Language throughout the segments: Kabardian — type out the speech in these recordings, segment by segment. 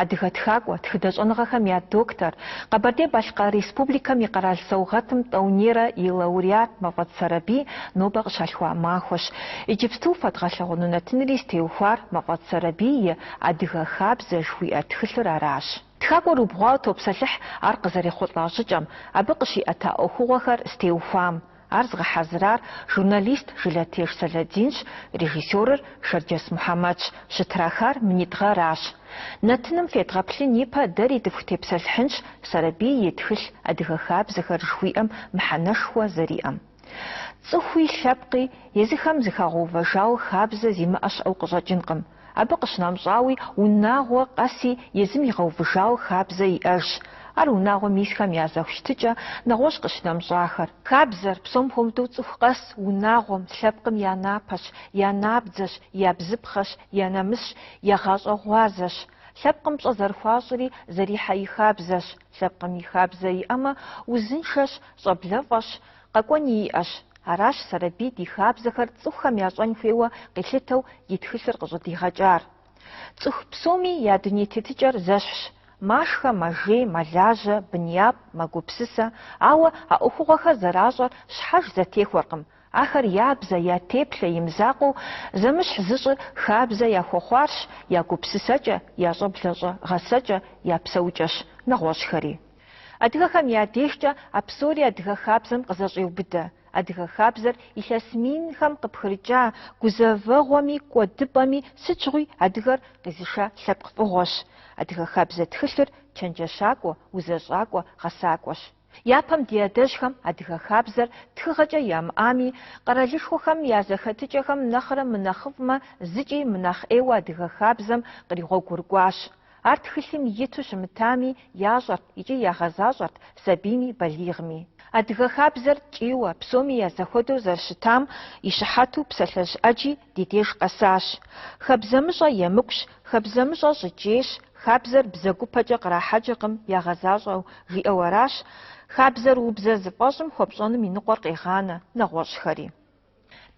Адыгэ тхакӏуэ, тхыдэ щӏэныгъэхэм я доктор, Къэбэрдей-Балъкъэр Республикэм и къэрал саугъэтым тӏэунейрэ и лауреат Мафӏэдз Сэрэбий нобэ къыщалъхуа махуэщ. Иджыпсту фэдгъэлъэгъуэну нэтынри зытеухуар Мафӏэдз Сэрэбий и Адыгэ хабзэ жыхуиӏэ тхылъыр аращ. Тхакӏуэр убгъуауэ топсэлъыхь ар къызэрехъулӏа щӏыкӏэм, абы къыщиӏэта ӏуэхугъуэхэр зытеухуам. Ар зыгъэхьэзырар журналист Жылэтеж Сэлэдинщ, режиссерыр Шэрджэс Мухьэмэдщ, щытрахар минитӏ гъэращ. Нэтыным федгъэплъын ипэ дэри дыфхутепсэлъыхьынщ Сэрэбий и тхылъ Адыгэ хабзэхэр жыхуиӏэм мыхьэнэшхуэ зэриӏэм. Цӏыхуи, лъэпкъи, езыхэм зыхуагъэувыжауэ хабзэ зимыӏэ щыӏэу къыщӏэкӏынкъым. Абы къыщынэмщӏауи, унагъуэ къэси езым игъэувыжауэ хабзэ иӏэжщ. Ар унагъуэм исхэм я зэхущытыкӏэ, нэгъуэщӏ къыщынэмщӏахэр. Хабзэр, псом хуэмыдэу цӏыху къэс, унагъуэм, лъэпкъым я напэщ, я набдзэщ, я бзыпхъэщ, я нэмысщ, я гъащӏэ гъуазэщ. Лъэпкъым пщӏэ зэрыхуащӏри, зэрихьэ и хабзэщ. Лъэпкъым и хабзэ иӏэмэ, узыншэщ, щӏэблэфӏэщ. Къэкӏуэни иӏэщ. Аращ Сэрэбий ди хабзэхэр цӏыхухэм ящӏэн хуейуэ къилъытэу и тхылъыр къыщӏыдигъэкӏар. Цӏыху псоми я дуней тетыкӏэр зэщхьщ, машхэ, мэжей, мэлажьэ, бын япӏ, мэгупсысэ, ауэ а ӏуэхугъуэхэр зэращӏэр щхьэж зэтехуэркъым, ахэр я бзэ, я теплъэ и мызакъуэу зэмыщхь зыщӏыр хабзэ яхуэхъуарщ, я гупсысэкӏэ, я щӏэблэщӏэ гъэсэкӏэ, я псэукӏэщ нэгъуэщӏхэри. Адыгэхэм я дежкӏэ а псори адыгэ хабзэм къызэщӏеубыдэ. Адыгэ хабзэр илъэс минхэм къыпхырыкӏа гузэвэгъуэми кӏуэдыпӏэми сыт щыгъуи адыгэр къизыша лъэпкъ фӏыгъуэщ. Адыгэ хабзэ тхылъыр чэнджэщакӏуэ, узэщӏакӏуэ, гъэсакӏуэщ. Япэм ди адэжьхэм адыгэ хабзэр тхыгъэкӏэ ямыӏами, къэралышхуэхэм я зэхэтыкӏэхэм нэхърэ мынэхъыфӏмэ зыкӏи мынэхъ ӏейуэ адыгэ хабзэм къригъуэгурыкӏуащ. Ар тхылъым иту щымытами, ящӏэрт икӏи ягъэзащӏэрт сабийми балигъми. Адыгэ хабзэр ткӏийуэ, псоми я зэхуэдэу зэрыщытам и щыхьэту псалъэжь ӏэджи ди деж къэсащ. Хабзэмыщӏэ емыкӏущ, хабзэмыщӏэ щӏыкӏейщ, хабзэр бзэгупэкӏэ кърахьэкӏыркъым ягъэзащӏэу, жиӏэу аращ, Хабзэр убзэ зыфӏэщӏым хуэпщӏэным и ныкъуэр къегъанэ, нэгъуэщӏхэри.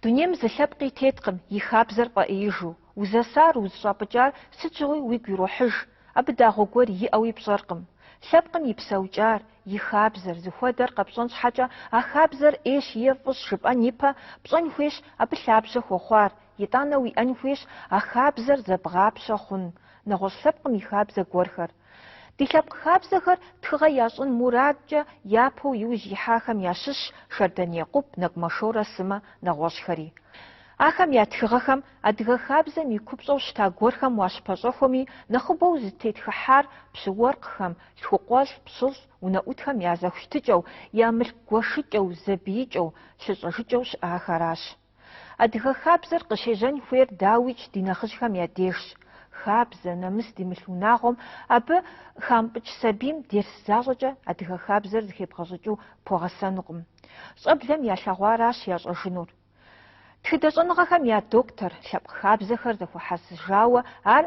Дунейм зы лъэпкъи теткъым и хабзэр фӏэӏеижу. Узэсар, узыщӏапӏыкӏар сыт щыгъуи уигу ирохьыж. Абы дагъуэ гуэр иӏэуи пщӏэркъым. Лъэпкъым и псэукӏар, и хабзэр, зыхуэдэр къэпщӏэн щхьэкӏэ а хабзэр ӏейщ е фӏыщ жыпӏэн ипэ, пщӏэн хуейщ абы лъабжьэ хуэхъуар, итӏанэ уиӏэн хуейщ а хабзэр зэбгъапщэ хъун нэгъуэщӏ лъэпкъым и хабзэ гуэрхэр. Ди лъэпкъ хабзэхэр тхыгъэ ящӏын мурадкӏэ япэу иужь ихьахэм ящыщщ Шэрдан Екъуб, Нэгумэ Шорэ сымэ нэгъуэщӏхэри. Ахэм я тхыгъэхэм адыгэ хабзэм и купщӏэу щыта гуэрхэм уащыпэщӏэхуэми, нэхъыбэу зытетхыхьар пщы-уэркъхэм, лъхукъуэлӏ, пщылӏ, унэӏутхэм я зэхущытыкӏэу, я мылъку гуэшыкӏэу, зэбиикӏэу, лъыщӏэжыкӏэу щыӏахэращ. Адыгэ хабзэр къыщежьэн хуейр дауикӏ ди нэхъыжьхэм я дежщ. Хабзэ, нэмыс димылъ унагъуэм, абы хамыпӏыкӏ сабийм дерс защӏэкӏэ адыгэ хабзэр зыхебгъэщӏыкӏыу пхуэгъэсэнукъым. Щӏэблэм ялъэгъуаращ ящӏэжынур. Тхыдэ щӏэныгъэхэм я доктор, лъэпкъ хабзэхэр зэхуэхьэсыжауэ ар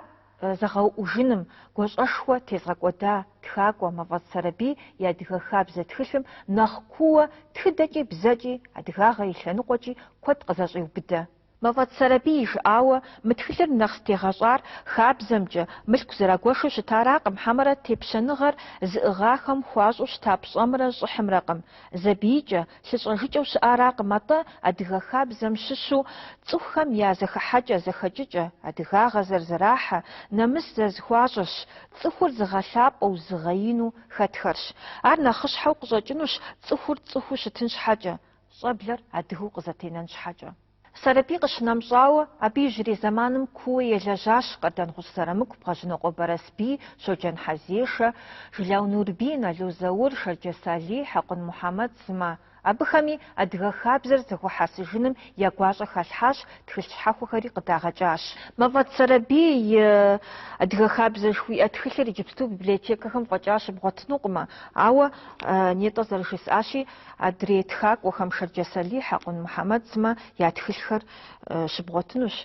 зэгъэуӏужыным гуащӏэшхуэ тезыгъэкӏуэда тхакӏуэ Мафӏэдз Сэрэбий и Адыгэ хабзэ тхылъым нэхъ куууэ тхыдэкӏи бзэкӏи, адыгагъэ и лъэныкъуэкӏи куэд къызэщӏеубыдэ. Мафӏэдз Сэрэбий жиӏауэ, мы тхылъыр нэхъ зытегъэщӏар хабзэмкӏэ, мылъку зэрагуэшу щытаракъым, хьэмэрэ тепщэныгъэр зыӏыгъахэм хуащӏу щыта пщӏэмрэ щӏыхьымрэкъым. Зэбиикӏэ, Лъыщӏэжыкӏэу щыӏаракъым атӏэ адыгэ хабзэм щыщу цӏыхухэм я зэхыхьэкӏэ-зэхэкӏыкӏэ, адыгагъэ зэрызэрахьэ, нэмыс зэрызэхуащӏэрщ, цӏыхур зыгъэлъапӏэу, зыгъэину хэтхэрщ. Ар нэхъыщхьэу къыщӏэкӏынущ цӏыхур цӏыхуу щытын щхьэкӏэ, щӏэблэр адыгэу къызэтенэн щхьэкӏэ. Сэрэбий къыщынэмщӏауэ, абы иужьрей зэманым куууэ елэжьащ Къардэнгъущӏ Зырамыку, Бгъэжьнокъуэ Барэсбий, Щоджэн Хьэзешэ, Жылау Нурбий, Нало Заур, Шэрджэс Алий, Хьэкъун Мухьэмэд сымэ. Абыхэми Адыгэ хабзэр зэхуэхьэсыжыным я гуащӏэ халъхьащ, тхылъ щхьэхуэхэри къыдагъэкӏащ. Мафӏэдз Сэрэбий и Адыгэ хабзэр жыхуиӏэ тхылъыр иджыпсту библиотекэхэм фӏэкӏа щыбгъуэтынукъымэ, ауэ нетӏэ зэрыжысӏащи, Адрей тхакӏуэхэм Шэрджэс Алий, Хьэкъун Мухьэмэд сымэ я тхылъхэр щыбгъуэтынущ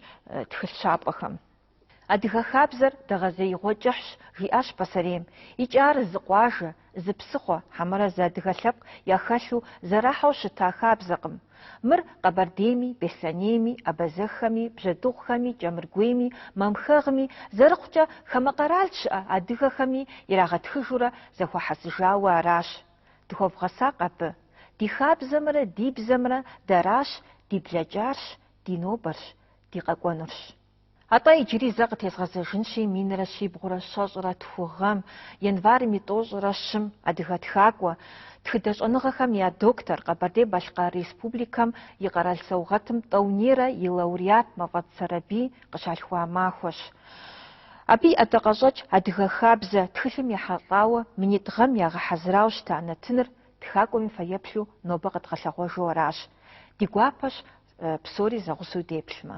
тхылъ щапӏэхэм. Адыгэ хабзэр дэгъэзеигъуэ кӏыхьщ, жиӏащ пасэрейм. Икӏи ар зы къуажэ, зы псыхъуэ, хьэмэрэ зы адыгэ лъэпкъ яхэлъу зэрахьэу щыта хабзэкъым. Мыр Къэбэрдейми, Беслъэнейми, абазэххэми, бжьэдыгъухэми, кӏэмыргуейми, мамхэгъми, зэрыхъукӏэ, хамэ къэрал щыӏэ адыгэхэми ирагъэтхыжурэ зэхуэхьэсыжауэ аращ. Дыхуэвгъэсакъ абы. Ди хабзэмрэ ди бзэмрэ дэращ, ди блэкӏарщ, ди нобэрщ, ди къэкӏуэнурщ. Атӏэ иджыри зэ къытезгъэзэжынщи, минрэ щибгъурэ щэщӏрэ тху гъэм, январым и тӏощӏрэ щым, адыгэ тхакӏуэ, тхыдэ щӏэныгъэхэм я доктор, Къэбэрдей-Балъкъэр Республикэм и къэрал саугъэтым тӏэунейрэ и лауреат Мафӏэдз Сэрэбий, къыщалъхуа махуэщ. Абы и ӏэдакъэщӏэкӏ адыгэ хабзэ тхылъым ехьэлӏауэ минитӏ гъэм ягъэхьэзырауэ щыта нэтыныр тхакӏуэм и фэеплъу нобэ къэдгъэлъэгъуэжу аращ. Ди гуапэщ псори зэгъусэу деплъмэ.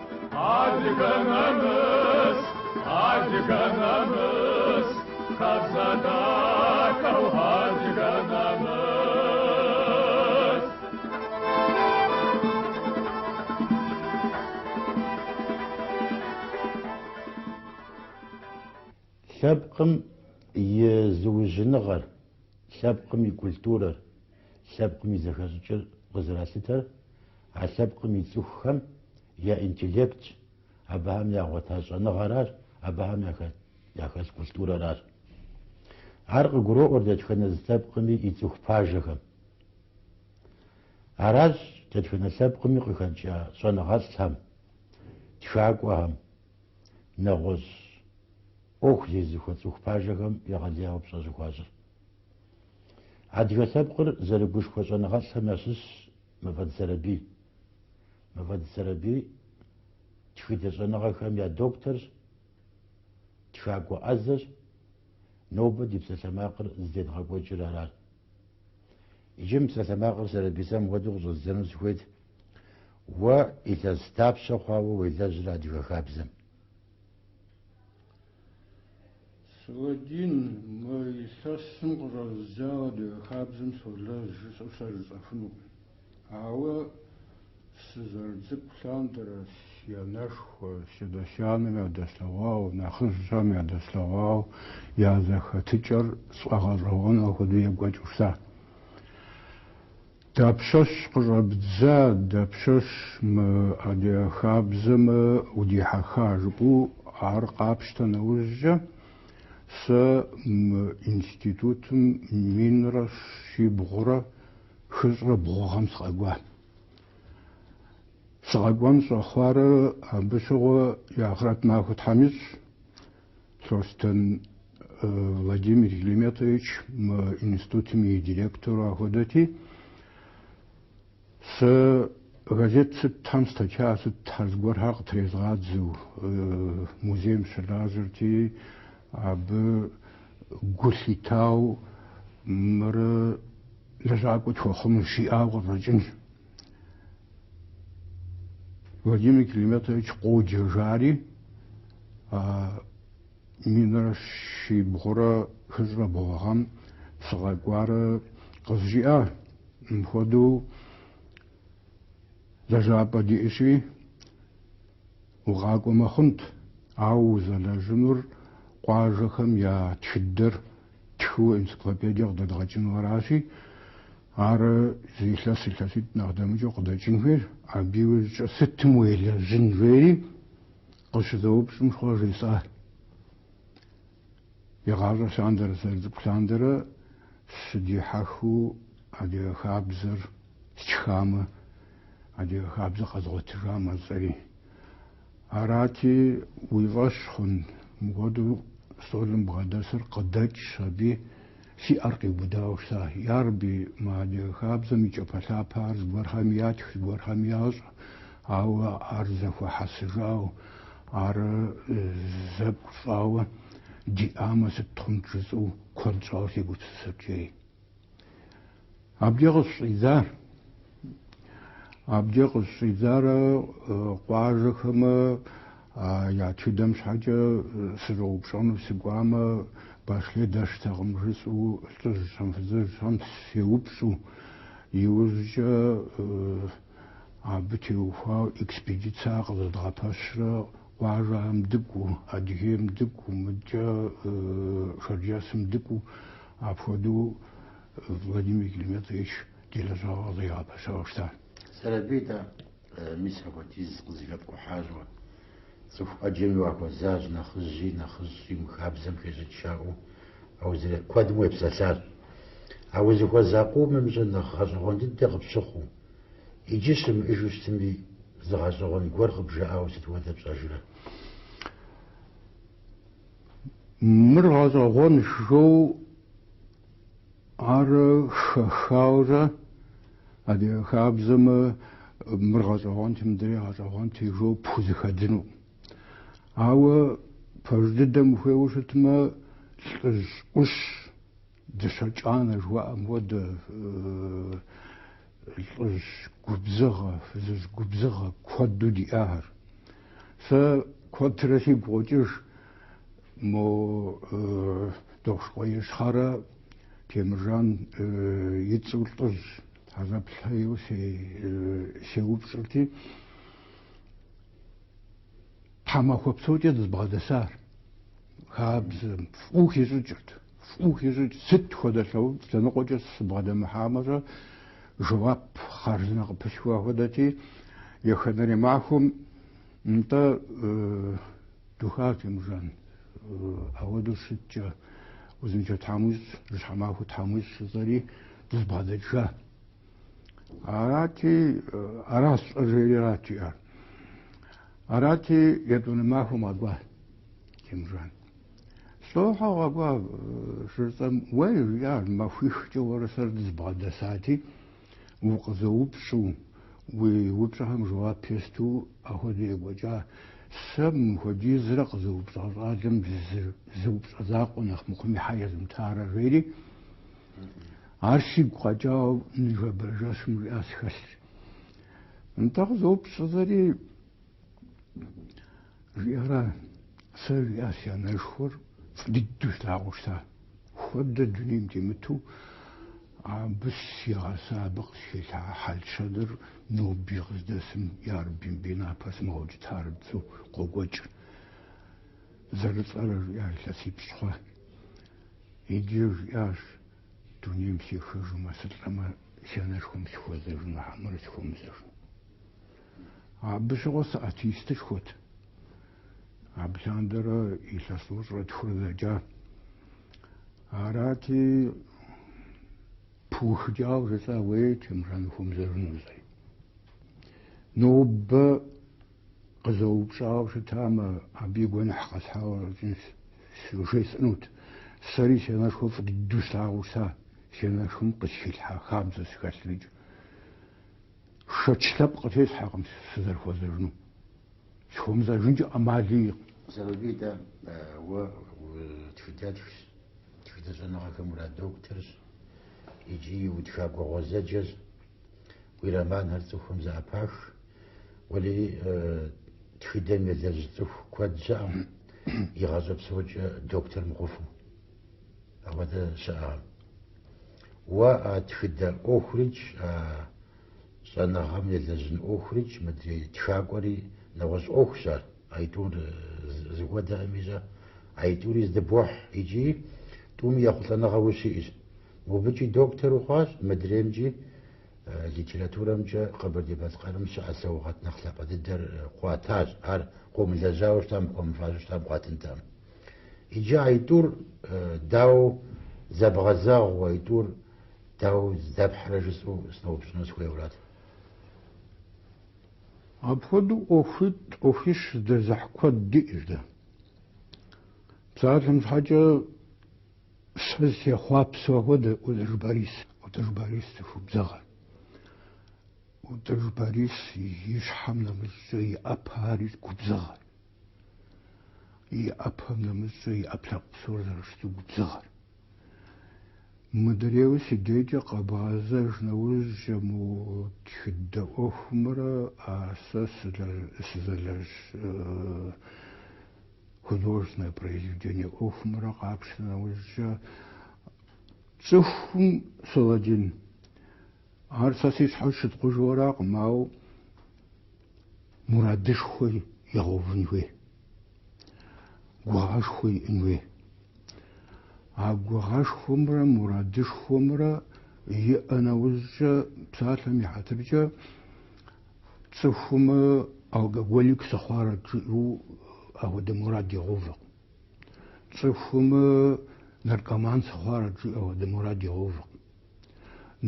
Адыгэ нэмыс, адыгэ нэмыс, хабзэ дахэу адыгэ нэмыс. Лъэпкъым и зыужьыныгъэр, лъэпкъым и культурэр, лъэпкъым и зэхэщӏыкӏыр къызэралъытэр А лъэпкъым и цӏыхухэм я интеллектщ, абыхэм ягъуэта щӏэныгъэращ, абыхэм яхэлъ культурэращ. Ар къыгуроӏуэр дэтхэнэ зы лъэпкъми и цӏыху пажэхэм. Аращ дэтхэнэ лъэпкъми къыхэкӏа щӏэныгъэлӏхэм, тхакӏуэхэм, нэгъуэщӏ ӏуэху зезыхуэ цӏыху пажэхэм егъэлеяуэ пщӏэ щӏыхуащӏыр. Адыгэ лъэпкъыр зэрыгушхуэ щӏэныгъэлӏхэм ящыщщ. Мафӏэдз Сэрэбий. Мафӏэдз Сэрэбий тхыдэ щӏэныгъэхэм я докторщ, тхакӏуэ ӏэзэщ, нобэ ди псалъэмакъыр зыдедгъэкӏуэкӏыр аращ. Иджы мы псалъэмакъыр Сэрэбий, сэ мыхуэдэу къыщӏэздзэну сыхуейт, уэ илъэс дапщэ хъуауэ уелэжьрэ адыгэ хабзэм? Сэлэдин, мы илъэсым къыщӏэзыдзауэ адыгэ хабзэм солэжь жысӏэу сэ жысӏэфынукъым. Ауэ сызэрыцӏыкӏу лъандэрэ си анэшхуэ, си адэ-си анэм ядэслъэгъуауэ, нэхъыжьхэм ядэслъэгъуауэ я зэхэтыкӏэр сфӏэгъэщӏэгъуэну апхуэдэу екӏуэкӏыу щытащ. Дапщэщ къыщӏэбдза, дапщэщ мы адыгэ хабзэмэ удихьэха жыпӏэу ар къапщтэ нэужькӏэ, сэ мы институтым минрэ щибгъурэ хыщӏрэ бгъу гъэм сыкъэкӏуа. Сыкъэкӏуэн щӏэхъуарэ абы щыгъуэ и ахърэт махуэ Тхьэм ищӏ Лъостэн Владимир Калиметович мы институтым и директору ахуэдэти, сэ газет сытхэм статья сытхэр зыгуэрхэр къытрезгъадзэу музейм сыщылажьэрти, абы гу лъитауэ мыр лэжьакӏуэ тхуэхъунущ жиӏауэ къыщӏэкӏынщ. Владимир Калиметович къоджэ жари, а минрэ щибгъурэ хыщӏрэ бгъугъэм сыкъэкӏуарэ къызжиӏа? Мыпхуэдэу лэжьапӏэ диӏэщи, укъакӏуэмэ хъунт, ауэ узэлэжьынур къуажэхэм я тхыдэр ттхыуэ энциклопедие къыдэдгъэкӏыну аращи, Ар зы илъэс илъэситӏ нэхъ дэмыкӏыу къыдэкӏын хуейр, абы и ужькӏэ сытым уелэжьын жери къыщызэупщӏым щхъуэ жесӏар. Игъащӏэ лъандэрэ сызэрыцӏыкӏу лъандэрэ сыдихьэхыу адыгэ хабзэр стхамэ, адыгэ хабзэр къэзгъуэтыжамэ жысӏэри. Арати, уи фӏэщ хъун. Мыпхуэдэу стӏолым бгъэдэсыр къыдэкӏщ аби, си ӏэр къиубыдауэ щыта. Ярэби, мы адыгэ хабзэм и кӏапэлъапэхэр зыгуэрхэм ятх, зыгуэрхэм ящӏ, ауэ ар зэхуэхьэсыжауэ, ар зы пкъыу щӏауэ диӏамэ, сыт хъунт жысӏэу куэд щӏауэ сегупсысырт жери. Абдеж къыщыщӏидзар. Абдеж къыщыщӏидзар къуажэхэмэ я тхыдэм щхьэкӏэ сыщӏэупщӏэну сыкӏуамэ, Башле дэщтэкъым, жысӏэу лӏыжьхэм, фызыжьхэм сеупщӏу. Иужькӏэ абы теухуауэ экспедицэ къызэдгъэпэщрэ къуажэхэм дыкӏуэу, Адыгейм дыкӏуэу, мыдкӏэ Шэрджэсым дыкӏуэу. Апхуэдэу Владимир Калиметович ди лэжьыгъэр къызэригъэпэщауэ щытар. Сэрэбий дэ, мис апхуэдиз къызэхэпкӏухьащ уэ. Цӏыху ӏэджэми уахуэзащ, нэхъыжьи нэхъыщӏи мы хабзэм хещӏыкӏ жаӏэу аузырет куэдым уепсэлъащ. А узыхуэза къомымкӏэ нэхъ гъэщӏэгъуэн дыдэ къыпщыхъуу, иджы щымыӏыжу щытми, зы гъэщӏэгъуэн гуэр къыбжаӏауэ сыт хуэдэ пщӏэжрэ? Мыр гъэщӏэгъуэнщ жыпӏэу ар хэхаурэ адыгэ хабзэмэ мыр гъэщӏэгъуэнти, мыдрей гъэщӏэгъуэнти жыпӏэу пхузэхэдзыну. Ауэ пэж дыдэм ухуейуэ щытмэ, лӏыжь ӏущ, дыщэ кӏанэ жыхуаӏэм хуэдэ, Лӏыжь губзыгъэ, фызыжь губзыгъэ куэду диӏахэр. Сэ куэдрэ сигу къокӏыж мо Дохъушыкъуей Ищхъэрэ Темыржан и цӏэу лӏыжь Хьэзэплъхэ ейуэ сеупщӏырти, тхьэмахуэ псокӏэ дызэбгъэдэсар, хабзэм фӏыуэ хищӏыкӏырт. Фӏыуэ хищӏыкӏ сыт хуэдэ лъэӏу лъэныкъуэкӏэ сыбгъэдэмыхьами щӏэ, жэуап хъарзынэ къыпылъхуа хуэдэти, еханэрей махуэм, Нтӏэ, духа Темыржан, ауэдэу щыткӏэ, узыншэ Тхьэм уищӏ, жьыщхьэ махуэ Тхьэм уищӏ жысӏэри, дызбгъэдэкӏыжа. Арати, ара сщӏэр жери арат жиӏар. Арати, етӏуанэ махуэм къэкӏуа Темыржан. Лӏо, щхьэ укъэкӏуа щыжысӏэм, уэ, жиӏащ, махуихкӏэ уэрэ сэрэ дызбгъэдэсати, укъызэупщӏу, уи упщӏэхэм жэуап есту апхуэдэу екӏуэкӏа. Сэ мыпхуэдизрэ къызэупщӏа щӏалэм зы зы упщӏэ закъуэ нэхъ мыхъуми щхьэ езымытарэ, жери, ар сигу къэкӏауэ ныжэбэрей жэщым жиӏащ, сыхэлъщ. Нтӏэ, къызэупщӏ жысӏэри, Жиӏара, сэ жиӏащ си анэшхуэр фӏы дыдэу слъагъуу щыта. Хуэдэ дунейм темыту абы сигъэса, абы къысхилъхьа хьэл-щэныр ноби къыздэсым ярэби, мыбы и напэ сымыгъэукӏытарэт жысӏэу къокӏуэкӏ. Зэрылӏэрэ, жиӏащ илъэсипщӏ хъуа. Иджы жиӏащ, дунейм сехыжмэ, сылӏэмэ, си анэшхуэм сыхуэзэжыну, хьэмэрэ сыхуэмызэжыну. Абы щыгъуэ сыатеистышхуэт. Абы лъандэрэ илъэс тӏощӏрэ тхурэ дэкӏа. Арати, пыухыкӏауэ жысӏа уэй, Темыржан, ухуэмызэжыну зэи. Нобэ къызэупщӏауэ щытамэ, абы и гуэныхь къэсхьауэ щӏэкӏынщ, щыжесӏэнут. Сэри си анэшхуэ фӏы дыдэу слъагъуу щыта, си анэшхуэм къысхилъхьа хабзэщ схэлърикӏ. Шэч лъэпкъ къытесхьэркъым сызэрыхуэзэжыну. Сыхуэмызэжынкӏэ ӏэмал иӏэкъым. Сэрэбий, дэ, уэ тхыдэтхщ, тхыдэ щӏэныгъэхэм урадокторщ икӏи утхакӏуэ гъуэзэджэщ. Уи романхэр цӏыхухэм зэӏэпах. Уэлэхьи, тхыдэм елэжь цӏыху куэд щыӏэкъым игъащӏэ псокӏэ доктор мыхъуфу. Апхуэдэ щыӏэкъым. Уэ а тхыдэ ӏуэхурикӏ, а щӏэныгъэм елэжьын ӏуэхурикӏ, мыдрей тхакӏуэри нэгъуэщӏ ӏуэхущ ар, аитӏур зэхуэдэкъым ищӏэ, аитӏури зэдыбохь икӏи тӏуми ехъулӏэныгъэ ущиӏэщ. Мобыкӏи доктор ухъуащ, мыдреймкӏи литературэмкӏэ Къэбэрдей-Балъкъэрым щыӏэ саугъэт нэхъ лъапӏэ дыдэр къуатащ, ар къыумылэжьауэ щытам, къыпхуэмыфащэу щытам къуатынтэкъым. Иджы а итӏур дауэ зэбгъэзэгъыу, а итӏур дауэ здэпхьрэ жысӏэу сыноупщӏыну сыхуейуэрат. Апхуэдэу ӏуэхуитӏ, ӏуэхуищ здэзыхь куэд диӏэщ дэ. Псалъэм щхьэкӏэ сэ сехъуапсэу ахуэдэ Ӏутӏыж Борис, Ӏутӏыж Борис цӏыху губзыгъэ. Ӏутӏыж Борис и щхьэм нэмыщӏкӏэ и ӏэпэхэри губзыгъэ. И ӏэпэм нэмыщӏкӏэ и ӏэпкълъэпкъ псор зэрыщыту губзыгъэр. Мыдрейуэ си дежкӏэ къэбгъэзэж нэужькӏэ мо тхыдэ ӏуэхумрэ а сэ сызэлэжь художественное произведение ӏуэхумрэ къапщтэ нэужькӏэ цӏыхум, Сэлэдин, Ар сэ си щхьэ сыщытхъужу аракъым, ауэ мурадышхуэ игъэувын хуей, гугъэшхуэ иӏэн хуей. А гугъэшхуэмрэ мурадышхуэмрэ иӏэ нэужькӏэ, псалъэм и хьэтыркӏэ, цӏыхум алкоголик сыхъуарэт жиӏэу апхуэдэ мурад игъэувкъым. Цӏыхум наркоман сыхъуарэт жиӏэу апхуэдэ мурад игъэувкъым.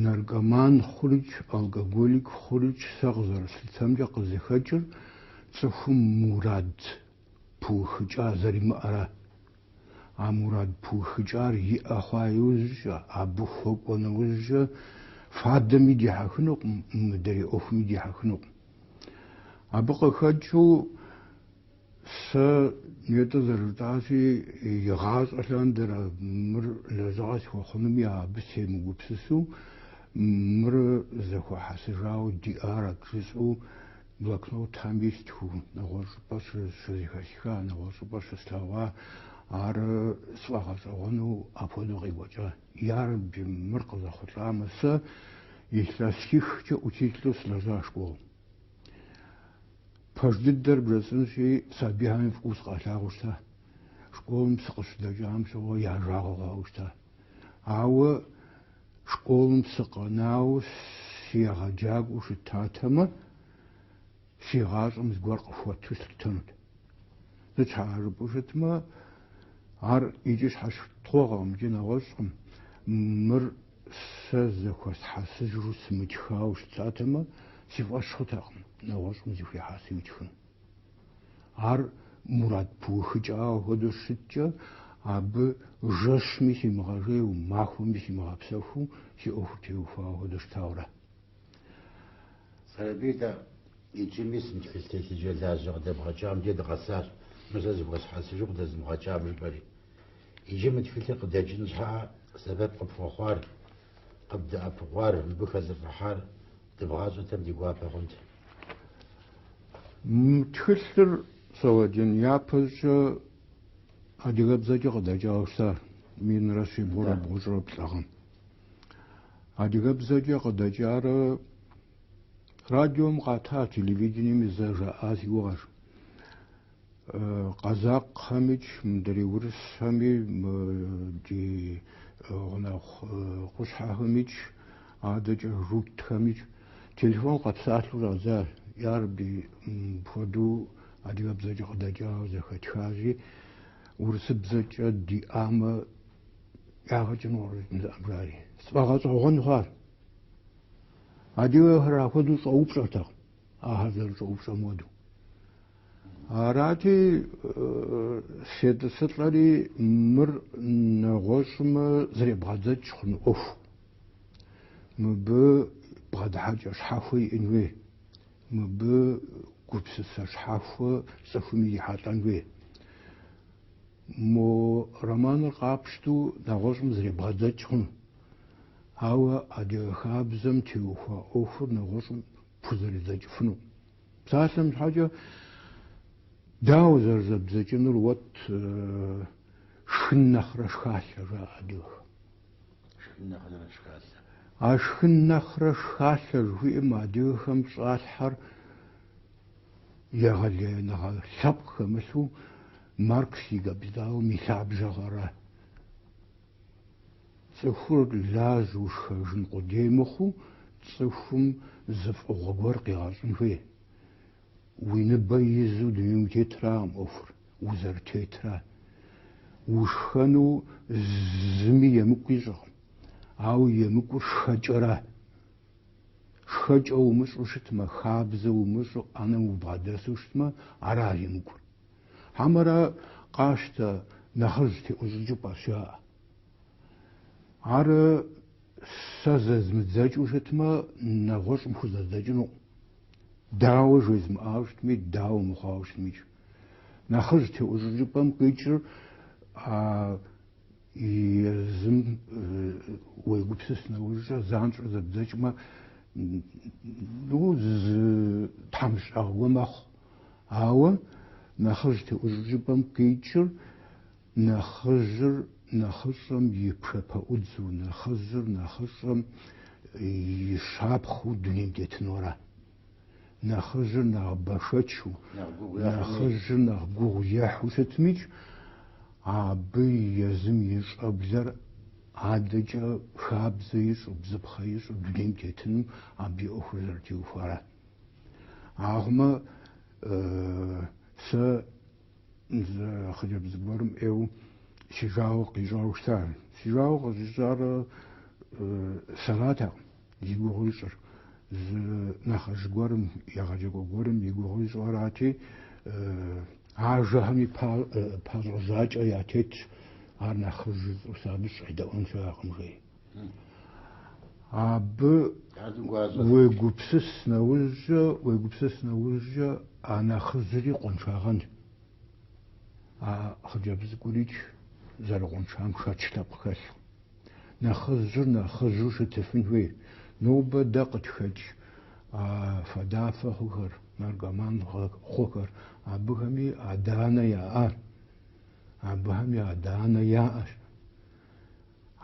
Наркоман хъурикӏ, алкоголик хъурикӏ сэ къызэрыслъытэмкӏэ къызыхэкӏыр цӏыхум мурад пыухыкӏа зэримыӏэра. А мурад пыухыкӏар иӏэ хъуа иужькӏэ, абы хуэкӏуэ нэужькӏэ фадэми дихьэхынукъым, мыдрей ӏуэхуми дихьэхынукъым. Абы къыхэкӏыу. Сэ нетӏэ зэрыжытӏащи, игъащӏэ лъандэрэ мыр лэжьыгъэ схуэхъунуми абы семыгупсысу, мыр зэхуэхьэсыжауэ диӏарэт жысӏэу блокнотхэм истхыу, нэгъуэщӏ щӏыпӏэ щызэхэсха, нэгъуэщӏ щӏыпӏэ щыслъэгъуа, ар сфӏэгъэщӏэгъуэну апхуэдэу къекӏуэкӏа. Ярэби, мыр къызэхъулӏамэ, сэ илъэсихкӏэ учителу сылэжьа школым. Пэж дыдэр бжесӏэнщи, сабийхэми фӏыуэ сыкъалъагъуу щыта. Школым сыкъыщыдэкӏам щыгъуэ я жагъуэ хъуауэ щыта. Ауэ школым сыкъэнауэ сыегъэджакӏуэу щытатэмэ, си гъащӏэм зыгуэр къыхуэту слъытэнут. Сыт щхьа жыпӏэу щытмэ, ар икӏи щхьэщытхъуэгъэкъым икӏи нэгъуэщӏкъым. Мыр Сэ зэхуэсхьэсыжу сымытхауэ щытатэмэ, си фӏэщ хъутэкъым нэгъуэщӏым зэхуихьэсу итхын. Ар мурад пыухыкӏауэ хуэдэу щыткӏэ, абы жэщми симыгъэжейуэ, махуэми симыгъэпсэхуу, си ӏуэхур теухуауэ хуэдэу щытауэрэ. Сэрэбий дэ иджы мис мы тхылъ телъыджэлажьэ къыдэбгъэкӏам дей дыкъэсащ, мы сэ зэхуэсхьэсыжу къыдэзымыгъэкӏам жыпӏэри. Иджы мы тхылъыр къыдэкӏын щхьэкӏэ сэбэп къыпхуэхъуар, къыбдэӏэпыкъуар, мыбы хэлӏыфӏыхьар дыбгъащӏэтэм ди гуапэ хъунт. Мы тхылъыр согъэджэн япэщӏыкӏэ адыгэбзэкӏэ къыдэкӏауэ щытащ минрэ щибгъурэ бгъущӏрэ плӏы гъэм. Адыгэбзэкӏэ къыдэкӏарэ радиом къата, телевидениеми зэ жаӏа си гугъэщ. Къэзакъхэмикӏ, мыдрей урысхэми, мы ди гъунэгъу къущхьэхэмикӏ, адэкӏэ журтхэмикӏ телефон къэпсалъэу щӏадзащ. Ярэби, мыпхуэдэу адыгэбзэкӏэ къыдэкӏауэ зэхэтхащи, урысыбзэкӏэ диӏамэ, ягъэкӏыну къыщӏэкӏын щыӏэм жаӏэри, сфӏэгъэщӏэгъуэн хъуащ. Адыгэхэр апхуэдэу щӏэупщӏэртэкъым, ахэр зэрыщӏэупщӏэм хуэдэу. Арати, сетӏысылӏэри мыр нэгъуэщӏым зребгъэдзэкӏ хъун ӏуэху. Мыбы бгъэдыхьэкӏэ щхьэхуэ иӏэн хуей, мыбы гупсысэ щхьэхуэ цӏыхум ирихьэлӏэн хуей. Мо романыр къапщтэу нэгъуэщӏым зребгъэдзэкӏ хъун. Ауэ адыгэ хабзэм теухуа ӏуэхур нэгъуэщӏым пхузэридзэкӏыфыну. Псалъэм щхьэкӏэ дауэ зэрызэбдзэкӏынур уэт шхын нэхърэ шхалъэ жаӏэ адыгэхэм. Шхын нэхърэ шхалъэ. А шхын нэхърэ шхалъэ жыхуиӏэм адыгэхэм щӏалъхьэр егъэлеяныгъэ лъэпкъ хэмылъу Маркс и Капиталым и лъабжьэгъэра Цӏыхур лажьэу шхэжын къудей мыхъуу, цӏыхум зы фӏыгъуэ гуэр къигъэщӏын хуей. Уи ныбэ изу дунейм утетракъым ӏуэхур узэрытетра. Ушхэну зыми емыкӏу ищӏыркъым, ауэ емыкӏур шхэкӏэра. Шхэкӏэ умыщӏэу щытмэ, хабзэ умыщӏэу ӏэнэм убгъэдэсу щытмэ, ара емыкӏур. Хьэмэрэ къащтэ нэхъыжь теӏущӏыкӏыпӏэща? Ар сэ зэзмыдзэкӏыу щытмэ, нэгъуэщӏым хузэдзэкӏынукъым. Дауэ жезмыӏауэ щытми, дауэ мыхъуауэ щытмикӏ. Нэхъыжь теӏущӏыкӏыпӏэм къикӏыр а езым уегупсыс нэужькӏэ, занщӏэу зэбдзэкӏмэ, ну, зы тхьэмыщӏагъуэ мэхъу. Ауэ нэхъыжь теӏущӏыкӏыпӏэм къикӏыр нэхъыжьыр нэхъыщӏэм и пшапэӏудзу, нэхъыжьыр нэхъыщӏэм и щапхъэу дунейм тетынура. Нэхъыжьыр нэхъ бэшэчу, нэхъыжьыр нэхъ гугъу ехьу щытмикӏ, абы езым и щӏэблэр адэкӏэ хабзэ ищӏу, бзыпхъэ ищӏу дунейм тетыным абы и ӏуэхур зэрытеухуара. Ахъумэ сэ зы хъыджэбз гуэрым ӏейу си жагъуэ къищӏауэ щытар. Си жагъуэ къыщӏищӏар сэратэкъым, зи гугъу ищӏыр. Зы нэхъыжь гуэрым, егъэджакӏуэ гуэрым и гугъу ищӏырати, ажэхэми пащӏэ-жьакӏэ ятетщ, ар нэхъыжщ жысӏэу сэ абы щӏедэӏуэн щыӏэкъым жеи. Абы уегупсыс нэужькӏэ, уегупсыс нэужькӏэ а нэхъыжьри къуэншагъэнщ. А хъыджэбз цӏыкӏурикӏ зэрыкъуэншам шэч лъэпкъ хэлъу. Нэхъыжьыр нэхъыжьу щытыфын хуей. Нобэ дэ къытхэкӏ а фадафэ хъухэр, наркоман хъухэр, абыхэми адэ-анэ яӏащ. Абыхэми адэ-анэ яӏэщ.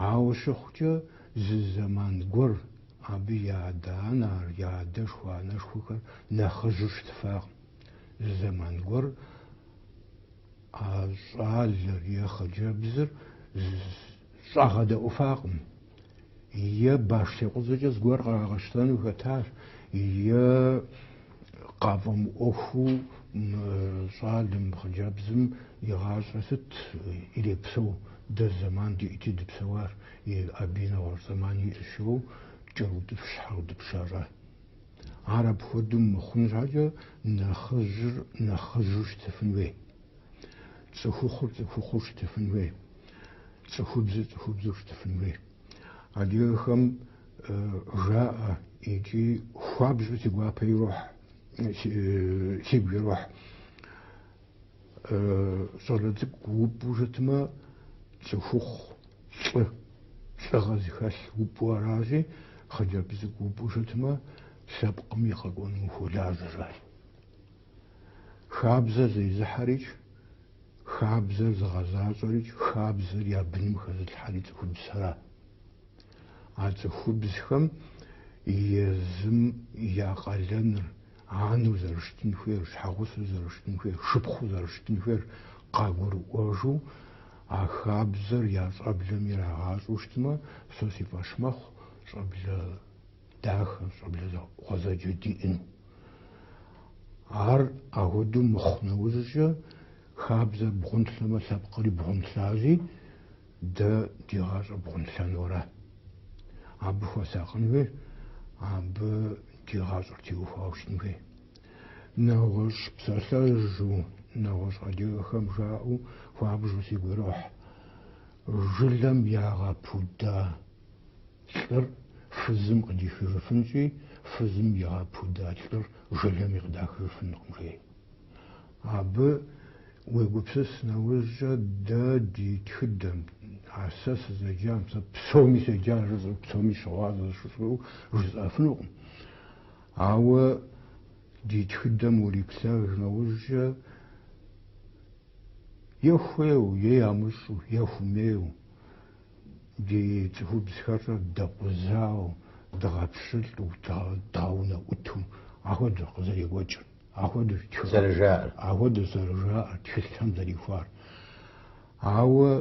Ауэ щыхъукӏэ, зы зэман гуэр абы я адэ-анэр, я адэшхуэ-анэшхуэхэр нэхъыжьу щытыфакъым. Зы зэман гуэр а щӏалэр е хъыджэбзыр щӏагъэдэӏуфакъым, е баш текъузэкӏэ зыгуэр къагъэщтэну хэтащ, е къафӏэмыӏуэхуу мы щӏалэм, хъыджэбзым и гъащӏэ сыт ирепсэу, дэ зэман диӏэти дыпсэуар, е абы и нэгъуэщӏ зэман иӏэщ, жаӏэу кӏэрыутӏыпщ-щхьэрыутӏыпщ ящӏа. Ар апхуэдэу мыхъун щхьэкӏэ нэхъыжьыр нэхъыжьу щытыфын хуей, цӏыхухъур цӏыхухъуэу щытыфын хуей, цӏыхубзыр цӏыхубзэу щытыфын хуей. Адыгэхэм жаӏэ икӏи хуабжьу си гуапэ ирохь, сигу ирохь. Щӏалэ цӏыкӏу упӏу щытмэ, цӏыхухъу, лӏы, лӏыгъэ зыхэлъ упӏу аращи, хъыджэбз цӏыкӏу упӏу щытмэ, лъэпкъым и къэкӏуэнум хуолажьэ, жаӏэ. Хабзэр зезыхьэрикӏ, хабзэр зыгъэзащӏэрикӏ, хабзэр я быным хэзылъхьэри цӏыхубзхэра. А цӏыхубзхэм езым я къалэныр, анэу зэрыщытын хуейр, щхьэгъусэу зэрыщытын хуейр, шыпхъуу зэрыщытын хуейр къагурыӏуэжу, а хабзэр я щӏэблэм ирагъащӏэу щытмэ, сэ си фӏэщ мэхъу щӏэблэ дахэ, щӏэблэ гъуэзэджэ диӏэну. Ар ахуэдэу мыхъу нэужькӏэ, хабзэр бгъунлъэмэ, лъэпкъри бгъунлъащи, дэ ди гъащӏэр бгъунлъэнура. Абы хуэсакъын хуей, абы ди гъащӏэр теухуауэ щытын хуей. Нэгъуэщӏ псалъэжьу, нэгъуэщӏ адыгэхэм жаӏэу хуабжу сигу ирохь, Жылэм ягъэпуда. лӏыр фызым къыдихыжыфынщи, фызым игъэпуда лӏыр жылэми къыдахыжыфынкъым, жей. Абы уегупсыс нэужькӏэ дэ ди тхыдэм, а сэ сызэджам, сэ псоми седжа жысӏэу, псоми щыгъуазэ жысӏэу жысӏэфынукъым. Ауэ ди тхыдэм уриплъэж нэужькӏэ, е хуейу, е ямыщӏэу, е хуэмейу, Ди цӏыхубзхэр дэкъузауэ, дгъэпщылӏу, дгъэунэӏуту ахуэдэу къызэрекӏуэкӏыр, ахуэдэу, ахуэдэу зэрыжаӏэр, тхылъхэм зэрихуар. Ауэ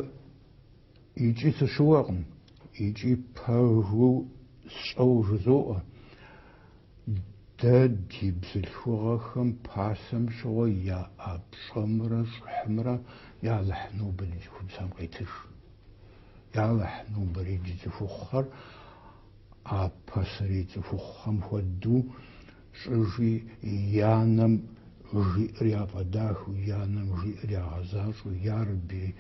икӏи сыщыуэкъым, икӏи пэжу сщӏэу жызоӏэ. Дэ ди бзылъхугъэхэм пасэм щыгъуэ яӏа пщӏэмрэ щӏыхьымрэ я Алыхь, нобэ ди цӏыхубзхэм къетыж. Я Алыхь, нобэрей ди цӏыхухъухэр а пасэрей цӏыхухъухэм хуэдэу щӏыжи, и анэм жиӏэр яфӏэдахэу, и анэм жиӏэр ягъэзащӏэу, ярэби,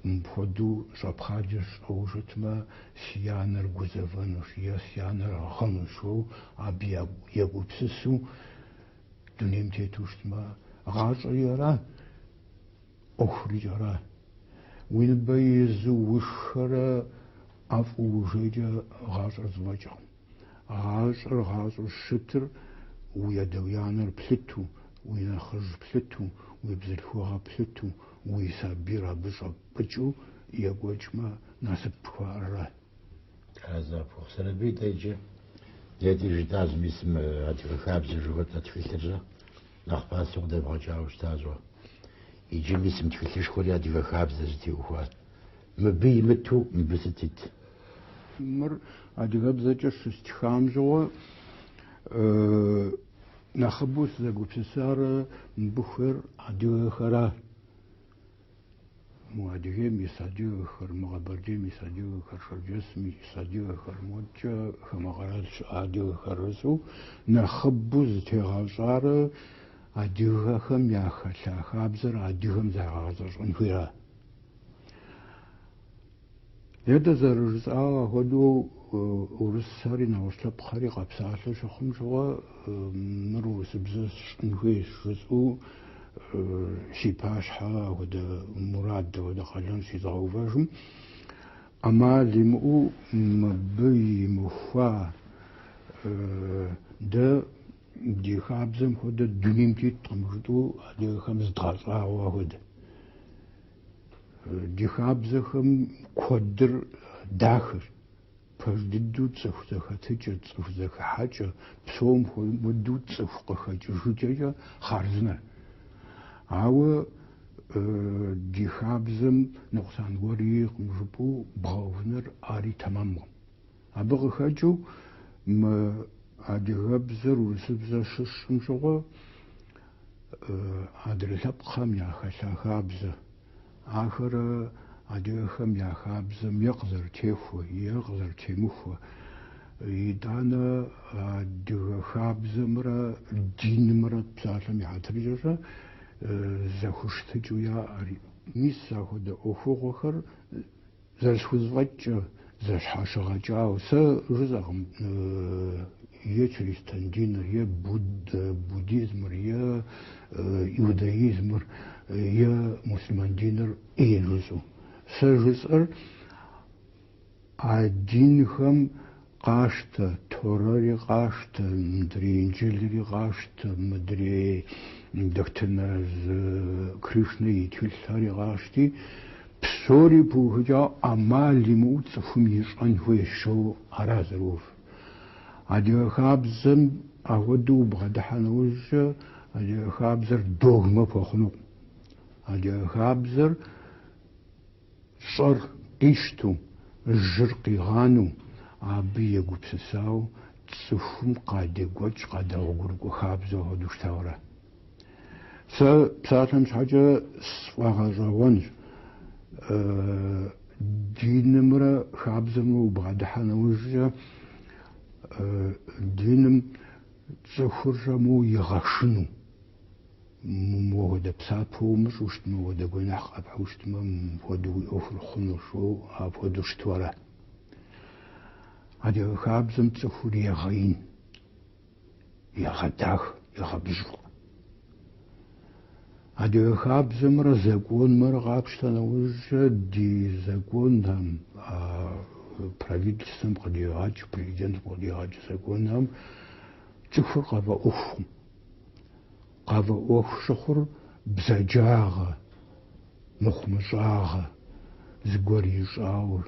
мыпхуэдэу щӏэпхъаджэ сщӏэу щытмэ, Си анэр гузэвэнущ е си анэр гъынущ, уэ абы егупсысу дунейм тету щытмэ, гъащӏэри ара, ӏуэхурикӏ ара. Уи ныбэ изу ушхэрэ ӏэфӏу ужейкӏэ гъащӏэр зэфӏэкӏкъым. Гъащӏэр гъащӏэу щытыр уи адэ, уи анэр плъыту, уи нэхъыжь плъыту, уи бзылъхугъэ плъыту, уи сабийр абы щӏэпӏ. Пыкӏыу екӏуэкӏмэ насып пхуаӏэрэ? А зэпхъу Сэрэбий иджы нетӏэ жытӏа зы мис мы Адыгэ хабзэ жыхуэтӏэ тхылъыр уэ нэхъ пасэу къыдэбгъэкӏауэ щытащ. Иджы мис мы тхылъышхуэри адыгэ хабзэ зытеухуар. Мыбы имыту мыбы сыт ит? Мыр адыгэбзэкӏэ щыстхам щыгъуэ нэхъыбэу сызэгупсысарэ мыбыхэр адыгэхэра? Мо Адыгейм ис адыгэхэр, мо Къэбэрдейм ис адыгэхэр, Шэрджэсым ис адыгэхэр модэкӏэ хамэ къэрал щыӏэ адыгэхэр жысӏэу нэхъыбэу зытегъэщӏарэ адыгэхэм яхэлъа хабзэр адыгэм езгъэгъэзэщӏэн хуейра? Нетӏэ зэрыжысӏагъэ хуэдэу урысхэри нэгъуэщӏ лъэпкъхэри къэпсалъэу щыхъум щыгъуэ мыр урысыбзэ сщӏын хуейщ жысӏэу си пащхьэ апхуэдэ мурад, апхуэдэ къалэн щызгъэувыжым ӏэмал имыӏэу мыбы имыхуа дэ ди хабзэм хуэдэ дунейм теткъым жытӏэу адыгэхэм зыдгъэщӏагъуэ хуэдэ. Ди хабзэхэм куэдыр дахэщ. Пэж дыдэу цӏыху зэхэтыкӏэ, цӏыху зэхыхьэкӏэ, псом хуэмыдэу цӏыху къыхэкӏыжыкӏэкӏэ хъарзынэр. Ауэ ди хабзэм ныкъусан гуэри иӏэкъым жыпӏэу бгъэувыныр ари тэмэмкъым. Абы къыхэкӏыу мы адыгэбзэр урысыбзэ щысщӏым щыгъуэ, Адрэ лъэпкъхэм яхэлъа хабзэ. Ахэр адыгэхэм я хабзэм е къызэрытехуэ, е къызэрытемыхуэ, итӏанэ адыгэ хабзэмрэ динымрэ псалъэм и хьэтыркӏэ зэхущытыкӏэу яӏэри. Мис апхуэдэ ӏуэхугъуэхэр Зэрысхузэфӏэкӏкӏэ, зэщхьэщыгъэкӏауэ. Сэ жысӏэкъым е чристэн диныр, е буддизмыр, е иудаизмыр, е муслъымэн диныр ӏей жысӏэу. Сэ жысӏэр а динхэм Къаштэ, Торэри къаштэ, мыдрей Инджылри къаштэ, мыдрей Дохтынэз Кришнэ и тхылъхэри къашти, псори пыухыкӏауэ ӏэмал имыӏэу цӏыхум ищӏэн хуейщ жиӏэу ара зэрыувыр. Адыгэ хабзэм ахуэдэу убгъэдыхьа нэужькӏэ адыгэ хабзэр догмэ хуэхъунукъым. Адыгэ хабзэр. Щӏэр къищтэу, жьыр къигъанэу, абы егупсысауэ цӏыхум къадекӏуэкӏ къадэгъуэгурыкӏуэ хабзэу хуэдэу щытауэ ара. Сэ псалъэм щхьэкӏэ сфӏэгъэщӏэгъуэнщ, динымрэ хабзэмрэ убгъэдыхьэ нэужькӏэ, диным цӏыхур щӏэмыу игъэшынэу. Мыуэ хуэдэ псапэ умыщӏэу щытмэ, мыуэ хуэдэ гуэныхь къэпхьу щытмэ, мыпхуэдэу уи ӏуэхур хъунущ жиӏэу апхуэдэу щыту ара? Адыгэ хабзэм цӏыхур егъэин, егъэдахэ, егъэбжьыфӏэ. Адыгэ хабзэмрэ законымрэ къапщтэ нэужькӏэ ди законхэм, правительствэм къыдигъэкӏ, президентым къыдигъэкӏ законхэм цӏыхур къафӏэӏуэхукъым. Къафӏэӏуэху щыхъур бзаджагъэ, мыхъумыщӏагъэ, зыгуэр ищӏауэ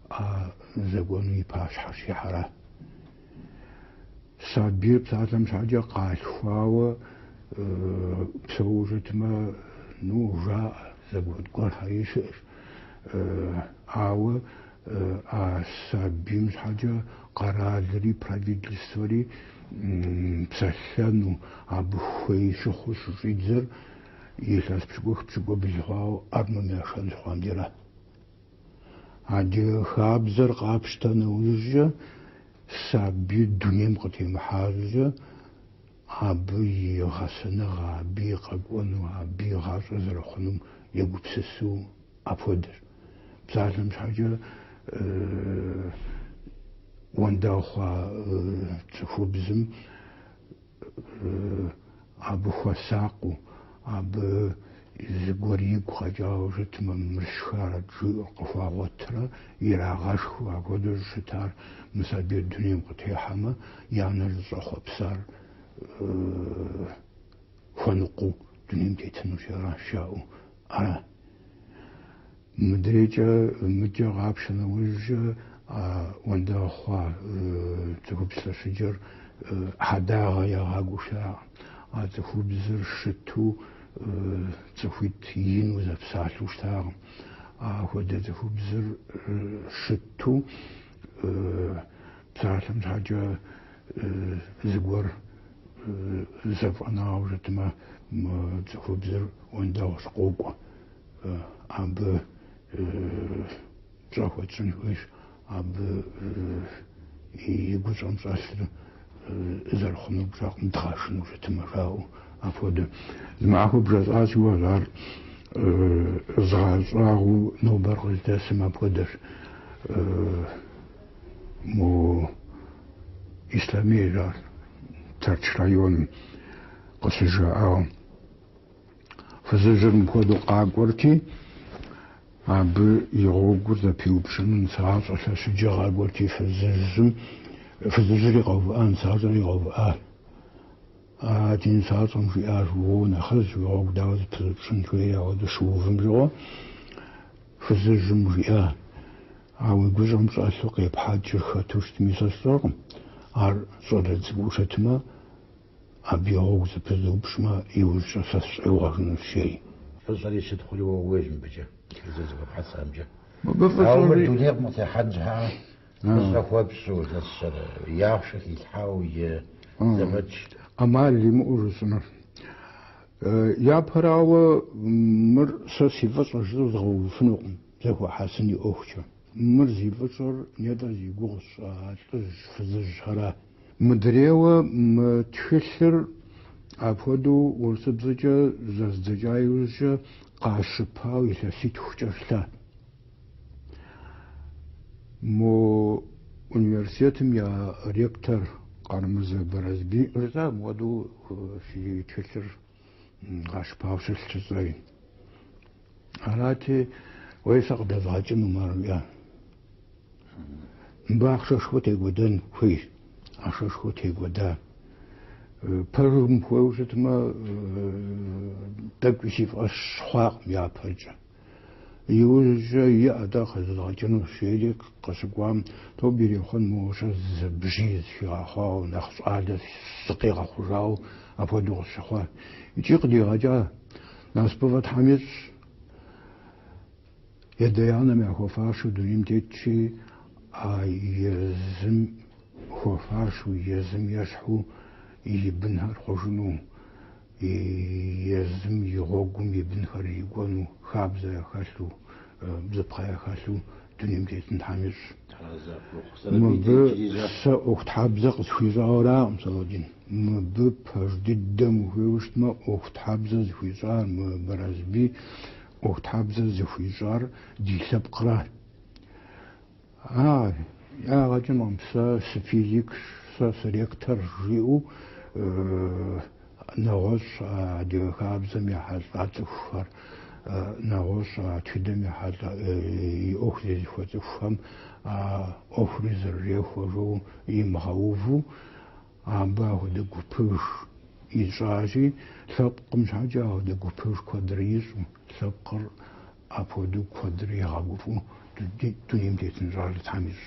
а законым и пащхьэ щихьэра. Сабийр псалъэм щхьэкӏэ къалъхуауэ псэууэ щытмэ, ну, жаӏэ, закон гуэрхэри щыӏэщ. Ауэ А сабийм щхьэкӏэ къэралри правительствэри псэлъэну абы хуей щыхъуу щыщӏидзэр илъэс пщыкӏух пщыкӏубл хъуауэ армэм яшэн щыхъуам дейра. Адыгэ хабзэр къапщтэ нэужькӏэ сабийр дунейм къытемыхьэ щӏыкӏэ абы и гъэсэныгъэ, абы и къэкӏуэну, абы и гъащӏэ зэрыхъунум егупсысу Апхуэдэщ. Псалъэм щхьэкӏэ уэндэгъу хъуа цӏыхубзым абы хуэсакъыу, абы зыгуэр игу къэкӏауэ щытмэ, мыр сшхарэт жиӏэу къыхуагъуэтурэ ирагъэшхыу, апхуэдэущ щытар. Мы сабийр дунейм къытехьэмэ, и анэр зыщӏэхъуэпсар хуэныкъуэу дунейм тетынущ ар жаӏэу Ар мыдрейкӏэ мыкӏэ къапщтэ нэужькӏэ, а уэндэгъу хъуа цӏыхубз лъэщыджэр хьэдагъэ ягъакӏуэу щытакъым. А цӏыхубзыр щыту цӏыхуитӏ ину зэпсалъэу щытакъым. Апхуэдэ цӏыхубзыр щыту. Псалъэм щхьэкӏэ зыгуэр зэфӏэнауэ щытмэ, мы цӏыхубзыр уэндэгъущ, къокӏуэ. Абы пщӏэ хуэтщӏын хуейщ, абы и гущӏэм щӏэлъыр зэрыхъунур пщӏэкъым, дгъэшынэу щытмэ, жаӏэу. Апхуэдэ. Зы махуэ бжесӏащи, уэ сэ ар згъэщӏагъуэу нобэр къыздэсым апхуэдэщ. Мо Ислъэмей ар Тэрч районым къыщызжаӏауэ фызыжьыр мыпхуэдэу къакӏуэрти, абы и гъуэгур зэпиупщӏыну нысагъащӏэ лъэщыджэ къакӏуэрти, фызыжьым, фызыжьри къэувыӏа нысагъащӏэри къэувыӏащ. А ди нысащӏэм жиӏащ, Уоу, нэхъыжь и гъуэгу дауэ зэпызупщӏын, жери ауэдэу щыувым щыгъуэ, фызыжьым жиӏа, А уи гущӏэм щӏэлъу къепхьэкӏыр хэту щытми сэ сщӏэркъым, ар щӏалэ цӏыкӏуу щытмэ, абы и гъуэгу зэпызупщӏмэ, иужькӏэ сэ сыщӏегъуэжынущ, жи. Фӏыщӏэри щытхъури уэ ууейщ мыбыкӏэ, зэрызэхуэпхьэсамкӏэ. Мыбы фӏыщӏэ уиӏэу мыр дунейм къытехьэн щхьэкӏэ Фӏыщӏэ хуэпщӏу нэсыр и ахъшэ хилъхьауэ и зэфӏэкӏ. ӏэмал имыӏэу жысӏэнур. Япэрауэ, мыр сэ си фӏыщӏэ жысӏэу згъэувыфынукъым, зэхуэхьэсын и ӏуэхукӏэ. Мыр зи фӏыщӏэр нетӏыр зи гугъу сщӏа лӏыжь-фызыжьхэра. Мыдрейуэ мы тхылъыр апхуэдэу урысыбзэкӏэ зэздзэкӏа иужькӏэ къащыпауэ илъэситхукӏэ щылъа. Мо университетым я ректор Къарэмырзэ Барэсбий жесӏа мыпхуэдэу си тхылъыр къащыпауэ щылъщ жысӏэри. Арати, уей сэ къыдэзгъэкӏыну ӏэмал имыӏэу. Мыбы ахъшэшхуэ текӏуэдэн хуейщ. Ахъшэшхуэ текӏуэда. Пэжым ухуейуэ щытмэ, тӏэкӏуи си фӏэщ хъуакъым япэркӏэ. Иужькӏэ иӏэ-тӏэ къыдэзгъэкӏынущ, жери къыщыкӏуам, тобэ ирехъун моуэ щэ зы бжьиз схигъэхъуауэ, нэхъ щӏалэ сыкъигъэхъужауэ апхуэдэу къысщыхъуа. Икӏи къыдигъэкӏа, насыпыфӏэ Тхьэм ищӏ. И адэ-анэм яхуэфащэу дунейм тетщи, а езым хуэфащэу, езым ещхьу и бынхэр хъужыну. и езым, и гъуэгум и бынхэр ирикӏуэну, хабзэ яхэлъу, бзыпхъэ яхэлъу дунейм тетын Тхьэм ищӏ. Мыбы сэ ӏуэхутхьэбзэ къысхуищӏауэ аракъым, Сэлэдин. Мыбы пэж дыдэм ухуейуэ щытмэ, ӏуэхутхьэбзэ зыхуищӏар мы Барэсбий, ӏуэхутхьэбзэ зыхуищӏар ди лъэпкъра. А лӏагъэкӏэ мэхъу, сэ сыфизикщ, сэ сыректорщ, жиӏэу нэгъуэщӏ а адыгэ хабзэм ехьэлӏа цӏыхухэр, нэгъуэщӏ а тхыдэм ехьэлӏа и ӏуэху зезыхуэ цӏыхухэм а ӏуэхури зэрырехуэжу имыгъэуву, абы ахуэдэ гупыж ищӏащи, лъэпкъым щхьэкӏэ ахуэдэ гупыж куэдрэ ищӏу, лъэпкъыр Апхуэдэу куэдрэ игъэгуфӏэу дунейм тетын щӏалэ Тхьэм ищӏ.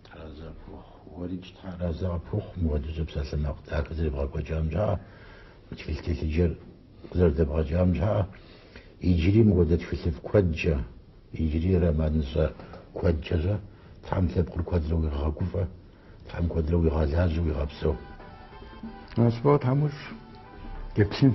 Тхьэразэ пхухъу. Уэрикӏ Тхьэразэ къыпхухъу, мыхуэдиз псалъэмакъ дахэ зэребгъэкӏуэкӏам щхьэкӏэ, мы тхылъ телъыджэр къызэрыдэбгъэкӏам щхьэкӏэ. Иджыри мыхуэдэ тхылъыфӏ куэдкӏэ, иджыри романыщӏэ куэдкӏэ Тхьэм лъэпкъыр куэдрэ уигъэгуфӏэ, Тхьэм куэдрэ уигъэлажьэ, уигъэпсэу. Насыпыфӏэ Тхьэм уищӏ, еплъын.